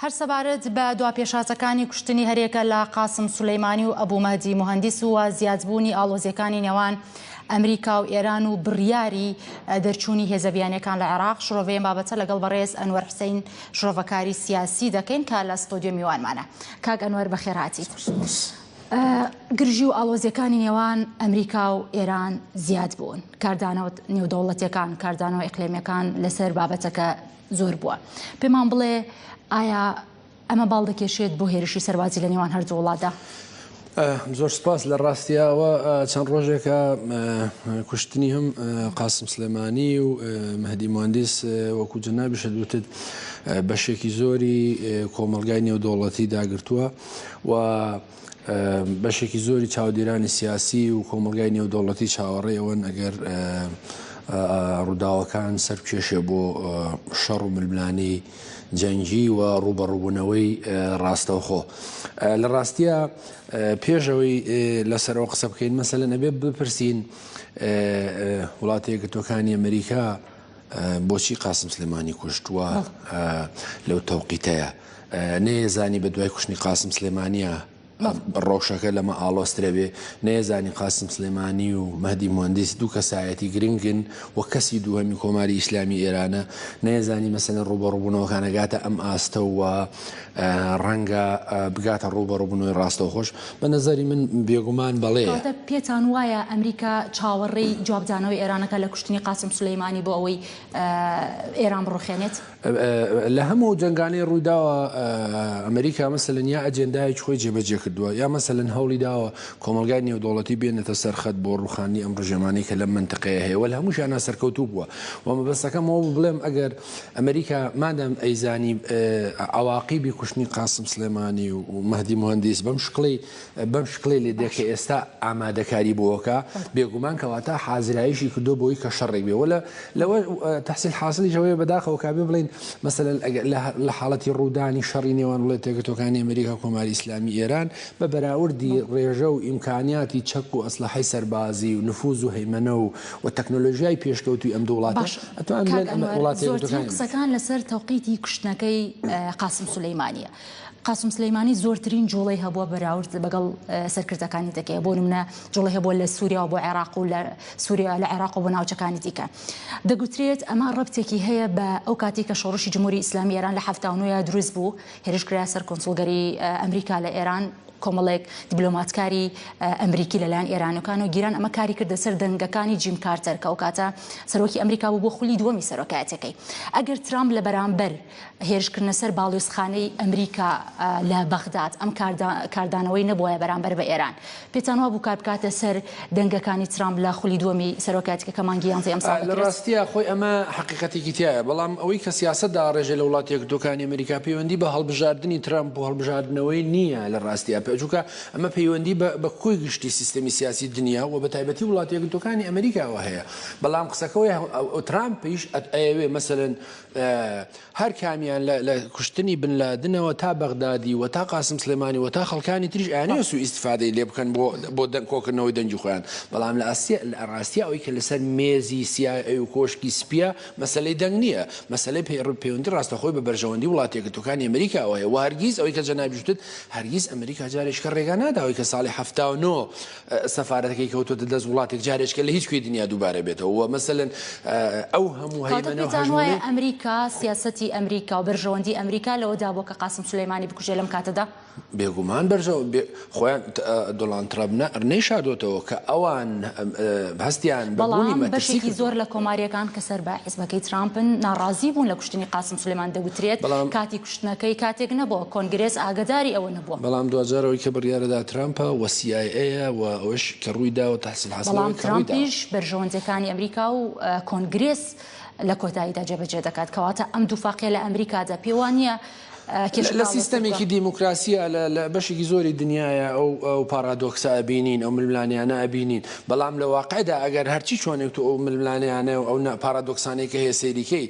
هەر سەبارەت بە دوا پێشهاتەکانی کوشتنی هەریەکە لە قاسم سولەیمانی و ئەبو مەهدی موهەندیس و زیادبوونی ئاڵۆزیەکانی نێوان ئەمریکا و ئێران و بڕیاری دەرچوونی هێزە بیانیەکان لە عێراق شرۆڤەی ئەم بابەتە لەگەڵ بەڕێز ئەنوەر حوسەین شرۆڤەکاری سیاسی دەکەین کە لە ستۆدیۆ میوانمانە کاک ئەنوەر بەخێرهاتیت گرژی و ئاڵۆزیەکانی نێوان ئەمریکا و ئێران زیاد بوون کاردانەوە نێودەوڵەتەکان کاردانەوە ئەقلێمەکان لەسەر بابەتەکە زۆر بووە پێمان بڵێ ئایا ئەمە باڵ دەکێشێت بۆ هێرشی سەروازی لە نێوان هەردوو وڵاتدا زۆر سپاس لە ڕاستیەوە چەند ڕۆژێکە کوشتنی هەم قاسم سلێمانی و مەدی مهندس وەکو جەنابیشە دوتت بەشێکی زۆری کۆمەلگای نێودوڵەتی داگرتووە و بەشێکی زۆری چاودێرانی سیاسی و کۆمەلگای نێودەوڵەتی چاوەڕێ ئەوەن ئەگەر ڕووداوەکان سەر کێشێ بۆ شەڕ و ململانێی جەنگی و ڕوبەڕوبوونەوەی ڕاستەوخۆ لە ڕاستە پێشەوەی لەسەرەوە قسە بکەین مەسەلەن ئەبێ بپرسین وڵاتەیەکە تۆکانی ئەمریکا بۆچی قاسم سلێمانی کوشتووە لەو تەوقیتەیە. نەیەزانی بە دوای کوشتنی قاسم سلێمانیە ڕەوشەکە لەمە ئاڵۆسترەبێ نەیەزانی قاسم سلێمانی و مەدی مهندس دوو کەسایەتی گرنگن و کەسی دووهەمی کۆماری ئیسلامی ئێرانە نەیەزانی مەسەن ڕوبەڕبوونەوەکانەگاتە ئەم ئاستەوە ڕەنگە بگاتە ڕوبەڕبوونەوەی ڕاستەوە خۆش بە نظری من بێگومان بەڵێ پێتان وایە ئەمریکا چاوەڕێی جوابدانەوەی ئێرانەکە لە کوشتنی قاسم سلەیمانی بۆ ئەوەی ئێران بڕوخێنێت؟ لە هەموو ئەو جەنگانەی ڕوویداوە ئەمریکا مەسەلەن یا ئەجێندایەکی خۆی جێبەجێ کردووە یا مەسەلەن هەوڵی داوە کۆمەلگای نێودەوڵەتی بێنێتە سەرخەت بۆ ڕوخاندنی ئەم ڕژێمانەی کە لەم منتقەیە هەیە وە لە هەمووشیان ناسەرکەوتوو بووە و مەبەستەکەم ئەوە بڵێم ئەگەر ئەمریکا مادەم ئەیزانی عواقیبی کوشتنی قاسم سلێمانی و مەهدی مهندیس بەم شکڵی بەم شکڵەی لێ دێ کە ئێستا ئامادەکاری بۆوەکە، بێگومان کەواتە حازرایشی کردووە بۆی کە شەڕێک بێ وە لەوە تەحسیل حاسڵیش ئەوەیە بەداخەوە کابێ بڵێین مەسەلەن لە حاڵەتی ڕوودانی شەڕی نێوان وڵێت یەکگرتووەکانی ئەمریکا و کۆماری ئیسلامی ئێران بە بەراوردی ڕێژە و ئیمکانیاتی چەک و ئەسلەحەی سەربازی و نفووز و هەیمەنە و و تەکنۆلۆژیای پێشکەوتووی ئەم دوو وڵاتە ئەتوانرێت ئەمە وڵاتی یەکگرتووەکان. زۆرترین قسەکان لەسەر تەوقیتی کوشتنەکەی قاسم سولەیمانییە. قاسم سلیمانی زۆرترین جوڵەی هەبووە بەراورد بەگەڵ سەرکردەکانی دەکەی بۆ منە جوڵی هەبووە لە سووریا بۆ عێراق و لە سووریا لە عێراق بۆ ناوچەکانی دیکە دەگوترێت ئەمە ڕبتێکی هەیە بە ئەو کاتی کە شۆڕشی جمهوری ئیسلامی ئێران لە هەفتاونوە دروست بوو هێرشکرا سەر کۆنسڵگەری ئەمریکا لە ئێران کۆمەڵێک دیبلۆماتکاری ئەمریکی لەلایەن ئێرانەکان و گیران ئەمە کاری کردە سەر دەنگەکانی جیم کارتەر کە ئەو کاتە سەرۆکی ئەمریکا بوو بۆ خولی دووەمی سەرۆکایەتەکەی ئەگەر ترامپ لە بەرامبەر هێرشکردنە سەر باڵیۆزخانەی ئەمریکا لە بەغداد ئەم کاردانەوەی نەبوایە بەرامبەر بە ئێران پێتان وابوو کار بکاتە سەر دەنگەکانی ترامپ لە خولی دووەمی سەرۆکایەتیکە کە مانگی یانزەی ئەم ساڵ لە ڕاستیا خۆی ئەمە حەقیقەتێکی تیایە بەڵام ئەوەی کە سیاسەت داڕێژێ لە وڵاتە یەکگرتووەکانی ئەمریکا پەیوەندی بە هەڵبژاردنی ترامپ و هەڵبژاردنەوەی نییە لە ڕاستیا چونکە ئەمە پەیوەندی بە کۆی گشتی سیستەمی سیاسی دنیا و بە تایبەتی وڵاتە یەکگرتووەکانی ئەمریکاوە هەیە بەڵام قسەکە ئەوەیە ترامپیش ئەیەوێ مەسەلەن هەر کامیان لە لە کوشتنی بن لادنەوە تا بەغدادی و تا قاسم سلێمانی و تا خەڵکانی تریش ئەیانەوێ سوء ئیستفادەی لێ بکەن بۆ بۆ دەنگ کۆکردنەوەی دەنگی خۆیان بەڵام لە ئاسیا لە ڕاستیا ئەوەی کە لەسەر مێزی سیای ئەی و کۆشکی سپیە مەسەلەی دەنگ نییە مەسەلەی پەیڕ پەیوەندی ڕاستەخۆی بە بەرژەوەندی وڵات یەکگرتووەکانی ئەمریکاوە هەیە و هەرگیز ئەوەی کە جەنابیش وتت هەرگیز ئەمریکا جارێکیکە ڕێگا ناداوەی کە ساڵی هەفتا و نۆ سەفارەتەکەی کەوتۆتە دەست وڵاتێک جارێچکە لە هیچ کوێی دنیا دووبارە بێتەوە وە مەسەلەن ئەو هەموو هەیمەنە و هەژموونەی. واتە پێتان وایە ئەمریکا سیاسەتی ئەمریکا و بەرژەوەندی ئەمریکا لەوەدا بووە کە قاسم سولەیمانی بکوژێ لەم کاتەدا؟ بێگومان بەرژەوە بێ خۆیان دۆڵاند تڕەب نە نەیشادۆتەوە کە ئەوان هەستیان بە بوونی مەترسی کردووە. بەڵام بەشێکی زۆر لە کۆمارییەکان کە سەر بە حیزبەکەی ترامپن ناڕازی بوون لە کوشتنی قاسم سولەیمان دەگوترێت کاتی کوشتنەکەی کاتێک نەبووە کۆنگرێس ئاگەداری ئەوە نەبوو. بەڵام دواجار ئەوەی کە بڕیارەدا ترامپە و سی ئای ئەیە و ئەوەش کە ڕووی داوە تەحسین حەسەن بەڵام ترامپیش بەرژەوەندیەکانی ئەمریکا و کۆنگرێس لە کۆتاییدا جێبەجێ دەکات کەواتە ئەم دووفاقیە لە ئەمریکادا پێوانە لە سیستەمێکی دیموکراسیە لە بەشێکی زۆری دنیاە ئەو پارادۆکسە ئەبینین ئەو ململانیانە ئەبینین بەڵام لە واقعدا ئەگەر هەرچی چۆنێک تو ئەو ململانیانە و ئەو پارادۆکسانێکە هەیە سەیریکەیت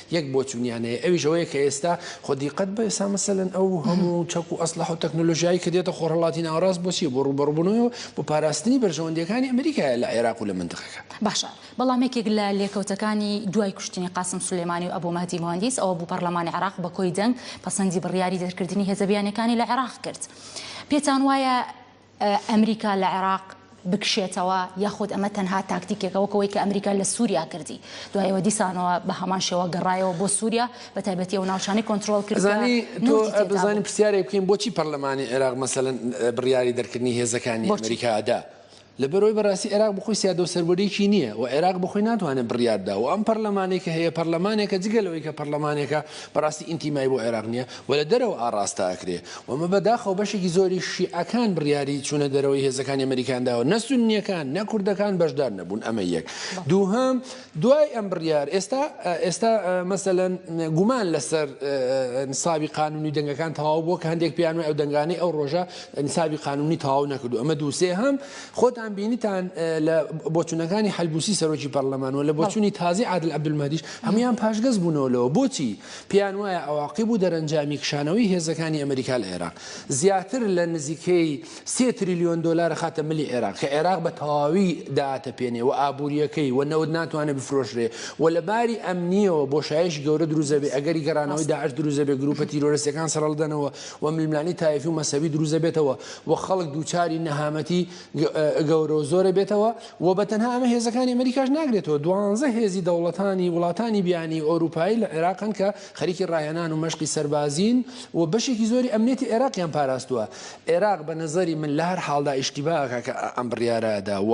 یەک بۆچونیان هەیە ئەویش ئەوەیە کە ئێستا خۆ دیقەت بە ئێستا مەسەلەن ئەو هەموو چەک و ئەسلح و تەکنۆلۆژیایی کە دێتە خۆرهڵاتی ناوەڕاست بۆچی بۆ ڕوبەڕبوونەوە بۆ پاراستنی بەرژەوەندیەکانی ئەمریکایە لە عێراق و لە منتقەکە. باشە بەڵام یەکێک لە لێکەوتەکانی دوای کوشتنی قاسم سولەیمانی و ئەبو مەهدی موهەندیس ئەوە بوو پەڕلەمانی عێراق بە کۆی دەنگ پەسەندی بڕیاری دەرکردنی هێزە بیانیەکانی لە عێراق کرد پێتان وایە ئەمریکا لە عێراق بکشێتەوە یاخود ئەمە تەنها تاکتیکێکە وەک ئەوەی کە ئەمریکا لە سوریا کردی دوای ئەوە دیسانەوە بە هەمان شێوە گەڕایەوە بۆ سوریا بە تایبەتی ئەو ناوچانەی کۆنترۆڵ کرد کە ئەزانی تۆ نەوتی تێدا بوو. ئەزانی پرسیارێک بکەین بۆچی پەرلەمانی عێراق مەسەلەن بڕیاری دەرکردنی هێزەکانی بۆچی؟ ئەمریکا دا لەبەر ئەوەی بەراستی عێراق بەخۆی سیادەو سەروەریی نییە و عێراق بەخۆی ناتوانێت بڕیار بدا و ئەم پەرلەمانەی کە هەیە پەرلەمانێکە جگە لەوەی کە پەرلەمانێکە بەراستی ئینتیمای بۆ عێراق نییە و لە دەرەوە ئاڕاستە ئەکرێ وەمە بەداخەوە بەشێکی زۆری شیعەکان بڕیاری چوونە دەرەوەی هێزەکانی ئەمەریکایان داوە، نە سوننیەکان نە کوردەکان بەشدار نەبوون، ئەمە یەک. دووهەم، دوای ئەم بڕیار ئێستا ئێستا مەسەلەن گومان لەسەر نیسابی قانونی دەنگەکان تەواو بووە کە هەندێک پێیان وایە ئەو دەنگانەی ئەو ڕۆژە نیسابی قانونی تەواو نەکردو ئەمە دوو. سێهەم، خۆتان بینیتان لە بۆچوونەکانی حەلبوسی سەرۆکی پەرلەمان و لە بۆچوونی تازەی عادل عەبدولمەهدیش هەموویان پاشگەز بوونەوە لەوە. بۆچی؟ پێیان وایە عەواقیب و دەرەنجامی کشانەوەی هێزەکانی ئەمریکا لە عێراق، زیاتر لە نزیکەی سێ تریلیۆن دۆلار ئەخاتە ملی عێراق، کە عێراق بە تەواوی دائەتەپێنێ و ئابوورییەکەی و نەوت ناتوانێ بفرۆشرێ و لە باری ئەمنییەوە بۆشایەکی گەورە دروست دەبێ، ئەگەری گەڕانەوەی داعش دروست دەبێ، گرووپە تیرۆرستییەکان سڕلدەنەوە و ململانێی تایفی و مەسەبی دروست دەبێتەوە و خەڵک دووچاری نەهامەتی گەورەو زۆرە بێتەوە و بە تەنها ئەمە هێزەکانی ئەمەریکاش ناگرێتەوە دوانزە هێزی دەوڵەتانی وڵاتانی بیانی ئۆروپایی لە عێراقن کە خەریکی ڕاهێنان و مەشقی سەربازین و بەشێکی زۆری ئەمنێتی عێراقیان پاراستووە عێراق بە نەزەری من لە هەر حاڵدا ئیشتیباکە کە ئەم بڕیارەدا و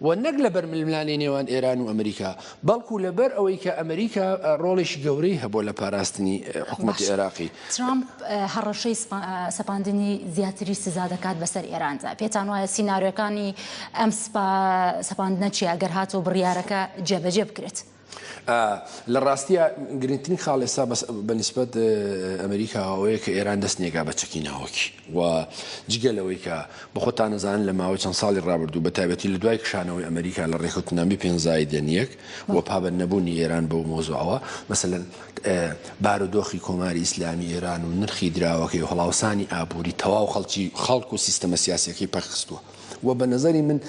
و نەک لە بەرململانی نێوان ئێران و ئەمریکا بەڵکو لەبەر ئەوەی کە ئەمریکا ڕۆڵێکی گەورەی هەبووە لە پاراستنی حکومەتی عێراقی. ترامپ هەڕەشەی سەپاندنی زیاتری سزا دەکات بەسەر ئێراندا، پێتان وایە سینارێۆکانی ئەم سەپاندنە چیە گەر هاتەوە بڕیارەکە جێبەجێ بکرێت؟ لە ڕاستیە گرنگترین خاڵ ئێستا بە نیسبەت ئەمریکا ئەوەیە کە ئێران دەست نێگا بە چەکی ناوەکی. و جگە لەوەی کە بە خۆتان ئەزانن لە ماوەی چەند ساڵی ڕابردوو بە تایبەتی لە دوای کشانەوەی ئەمریکا لە ڕێککەوتننامەی پێنج زایدەن یەک و پابەند نەبوونی ئێران بەو مۆزوعەوە مەسەلەن بارودۆخی کۆماری ئیسلامی ئێران و نرخی دراوەکەی و هەڵاوسانی ئابووری تەواو خەڵکی خەڵک و سیستەمە سیاسیەکەی پەکخستووە و بە نظری من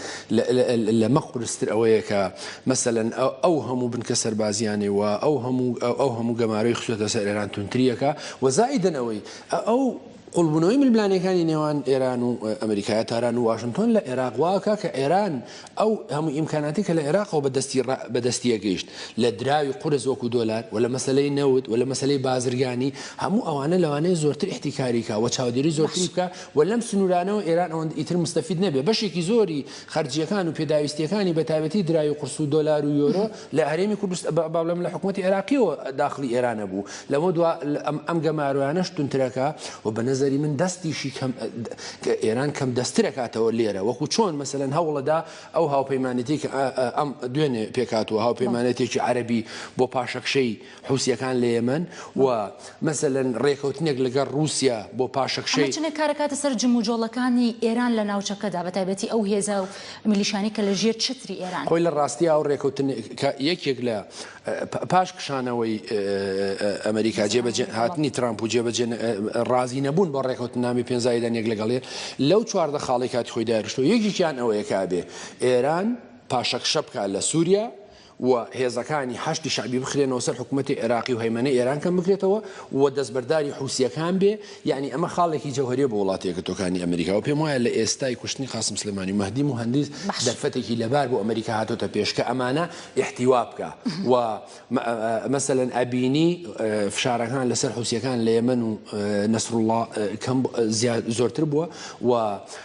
لەمە قورستر ئەوەیە کە مەسەن ئەو هەموو بنکە سەربازیانێ و ئەو هەموو ئەو هەموو گەمارەی خسوێتە سەر ئێران تونتریەکە و زائیدن ئەوەی ئەو قوڵبوونەوەی ململانێکانی نێوان ئێران و ئەمریکایە تاران و واشنتۆن لە عێراق واکە کە ئێران ئەو هەموو ئیمکاناتی کە لە عێراقەوە بەدەستی بەدەستیە گەیشت لە دراوی قورس وەکو دۆلار و لە مەسلەی نەوت و لە مەسلەی بازرگانی هەموو ئەوانە لەوانەیە زۆرتر احتیکاریکە و چاودێری زۆرتری بکە و لەم سنوورانەوە ئێران ئەوەند ئیتر مستەفید نەبێ بەشێکی زۆری خەرجییەکان و پێداویستییەکانی بە تایبەتی دراوی قورس و دۆلار و یۆرۆ لە هەرێمی کوردستان، بەڵام لە حکومەتی عێراقییەوە داخڵی ئێران نەبوو. لەمەو دوا ئەم گەمارۆیانەش توندترەکا و بە نەزەری من دەستیشی کەم ئێران کەم دەسترەکاتەوە لێرە وەکوو چۆن مەسەلەن هەوڵەدا ئەو هاوپەیمانێتی کە ئەم دوێنێ پێکهاتووە هاوپەیمانێتێکی عەرەبی بۆ پاشەکشەی حوسیەکان لە یەمەن و مەسەلەن ڕێکەوتنێک لەگەڵ ڕووسیا بۆ پاشەکشەی. ئەمە چ نەکارەکاتە سەر جموجۆڵەکانی ئێران لە ناوچەکەدا بە تایبەتی ئەو هێزە و میلیشانەی کە لە ژێر چەتری ئێران. خۆی لە ڕاستیا ئەو ڕێکەوتنە کە یەکێک لە پاش کشانەوەی ئەمەریکا جێبەجێ هاتنی ترامپ و جێبەجێ ڕازی نەبوون بۆ ڕێکەوتننامی پێنجزایدان یەک لەگەڵێ لەو چواردە خاڵی کاتی خۆی داێشتەوە یەکێکیان ئەوەیە کابێ ئێران پاشەکشە بکات لە سووریا و هێزەکانی حەشدی شەعبی بخرێنەوە سەر حکومەتی عێراقی و هەیمەنەی ئێران کەم بکرێتەوە و دەستبەرداری حوسییەکان بێ، یەعنی ئەمە خاڵێکی جەوهەریە بۆ وڵاتە یەکگرتووەکانی ئەمریکا و پێم وایە لە ئێستای کوشتنی قاسم سلێمانی و مەهدی موهەندیس دەرفەتێکی لەبار بۆ ئەمریکا هاتۆتە پێش کە ئەمانە ئیحتیوا بکا و مەسەلەن ئەبینی فشارەکان لەسەر حوسییەکان لە یەمەن و نەسروڵڵا کەم زۆرتر بووە و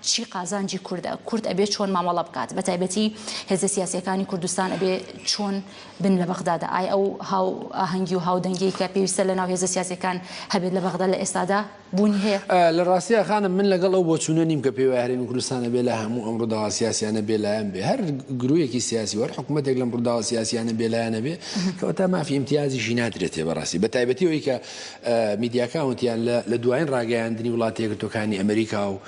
چی قازانجی کوردە کورد ئەبێ چۆن مامەڵە بکات بە تایبەتی هێزە سیاسەکانی کوردستان ئەبێ چۆن بن لە بەغدادا ئای ئەو هاو ئاهەنگی و هاودەنگی کە پێویستە لە ناو هێزە سیاسەکان هەبێت لە بەغدا لە ئێستادا بوونی هەیە لە ڕاستیە خانم من لەگەڵ ئەو بۆچوونە نیم کە پێی هەرێمی کوردستانە بێ لە هەموو ئەم ڕووداوە سیاسیانە بێلایەن بێ هەر گرویەکی سیاسی وەر حکوومەتێک لەم ڕووداوە سیاسیانە بێلایەنە بێ کەوە تا مافی امتیازیشی نادرێتێ بەڕاستی بە تایبەتی ئەوی کە میدیاکاونتیان لە دوایین ڕاگەیاندنی وڵاتی یەکگرتووەکانی ئەمریکا و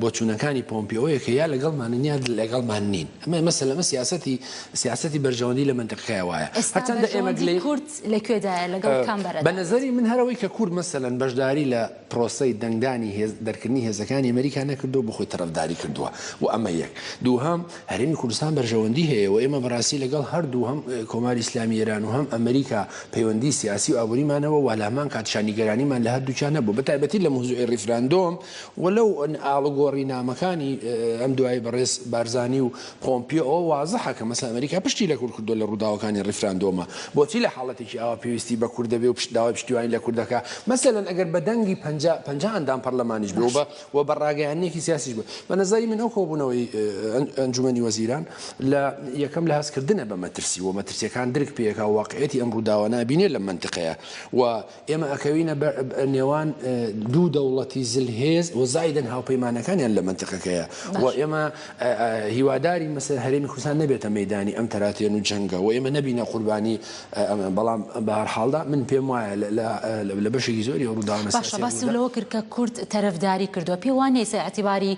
بۆچوونەکانی پۆمپیۆیە کە یا لەگەڵمانن یا لەگەڵمان نین ئەمە مەسە لەمە سیاستی سیاستی بەرژەوەندی لە منتەقەکە وایە هەرچەندە ئێمە گلەی کورد لەکوێدایە لەگەڵ کام بەرە بە نظری من هەرەوەی کە کورد مەسەلەن بەشداری لە پرۆسەی دەنگدانی هێز دەرکردنی هێزەکانی ئەمریکا نەکردو بخۆی تەرەفداری کردووە و ئەمە یەک دووهەم هەرێمی کوردستان بەرژەوەندی هەیە و ئێمە بەڕاستی لەگەڵ هەردوو هەم کۆماری ئیسلامی ئێران و هەم ئەمریکا پەیوەندی سیاسی و ئابووریمان هەبوو و لەهەمان کاتیشا نیگەرانیمان لە هەردووکیان هەبوو بەتایبەتی لە موزوعی ڕیفراندۆم و لەو ئاڵوگۆڕی نامەکانی ئەم دوایەی بەڕێز بارزانی و پۆمپیۆ ئەوە وازحە کە مەسەن ئەمریکا پشتی لە کورد کردووە لە ڕووداوەکانی ڕیفراندۆمە بۆچی لە حاڵەتێکی ئاوا پێویستی بە کورد دەبێ و داوای پشتیوانی لە کورد دەکا مەسەلەن ئەگەر بە دەنگی پەنجا پەنجا ئەندام پەڕلەمانیش بێ و بە و بە ڕاگەیاندنێکی سیاسیش بوو. بە نەزەری من ئەو کۆبوونەوەی ئەنجومەنی وەزیران لە یەکەم لە هەست کردنە بە مەترسی و مەترسیەکان درک پێ ئەکا و واقعیەتی ئەم ڕووداوە نابینێ لەم مەنتقەیە و ئێمە ئەکەوینە نێوان دوو دەوڵەتی زلهێز و زایدەن هاوپەیمانەکانیان لە مەنتقەکەیە و ئێمە هیوادارین مەسەلەن هەرێمی کوردستان نەبێتە مەیدانی ئەم تەراتێن و جەنگە و ئێمە نەبینە قوربانی بەڵام بە هەر حاڵدا من پێم وایە لە بەشێکی زۆری ئەو ڕووداوانە سیاسییە باشە باسی لەوە کرد کە کورد تەرەفداری کردووە پێ وا نییە ئیعتیباری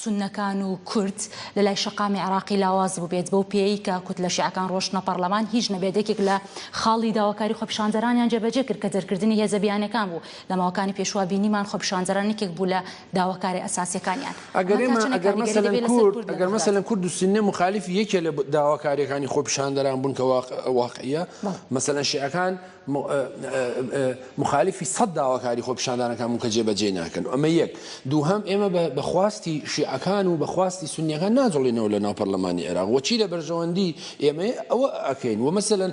سوننەکان و کورد لە لای شەقامی عێراقی لاواز بووبێت بەو پێیەی کە کوتلە شیعەکان ڕۆشتنە پەڕلەمان هیچ نەبێت یەکێک لە خاڵی داواکاری خۆپیشاندەرانیان جێبەجێ کرد کە دەرکردنی هێزە بیانییەکان بوو لە ماوەکانی پێشوە بینیمان خۆپیشاندەران یەکێک بوو لە داواکارە ئەساسیەکانیان. ئەگەر ئێمە ئەگەر مەسەلەن کورد ئەگەر مەسەلەن کورد و سوننە موخالیفی یەکێ لە داواکاریەکانی خۆپیشاندەران بوون کە واق واقعیە مەسەلەن شیعەکان موخالیفی سەد داواکاری خۆپیشاندانەکان بوون کە جێبەجێی ناکەن ئەمە یەک دووهەم ئێمە بە خواستی شیعەکان و بە خواستی سوننەکان ناجوڵێنەوە لە ناو پەرلەمانی عێراق وەچی لە بەرژەوەندی ئێمەیە ئەوە ئەکەین و مەسەلەن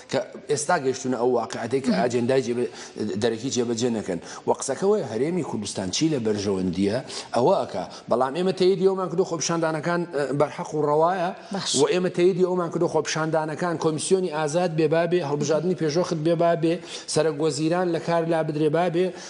کە ئێستا گەشتونە ئەو واقعەتەی کە ئاجێندای جێ دەرەکی جێبەجێ نەکەن و قسەکە وەیە هەرێمی کوردستان چی لە بەرژەوەندییە ئەوە ئەکا بەڵام ئێمە تەیدی ئەومان کردو خۆپیشاندانەکان بەرحەق و ڕەوایە و ئێمە تەیدی ئەومان کردو خۆپیشاندانەکان کۆمیسیۆنی ئازاد بێ بابێ هەڵبژاردنی پێشوەخت بێ بابێ سەرەک وەزیران لە کار لابدرێ بابێ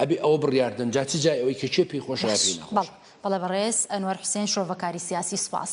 ئەبێ ئەوە بڕیار دەن جا چ جای ئەوەی کە کێ پێی خۆشە یا پێی باش ناخۆشە. بەڵێ بەڵێ بەڕێز ئەنوەر حوسێن شرۆڤەکاری سیاسی سوپاس.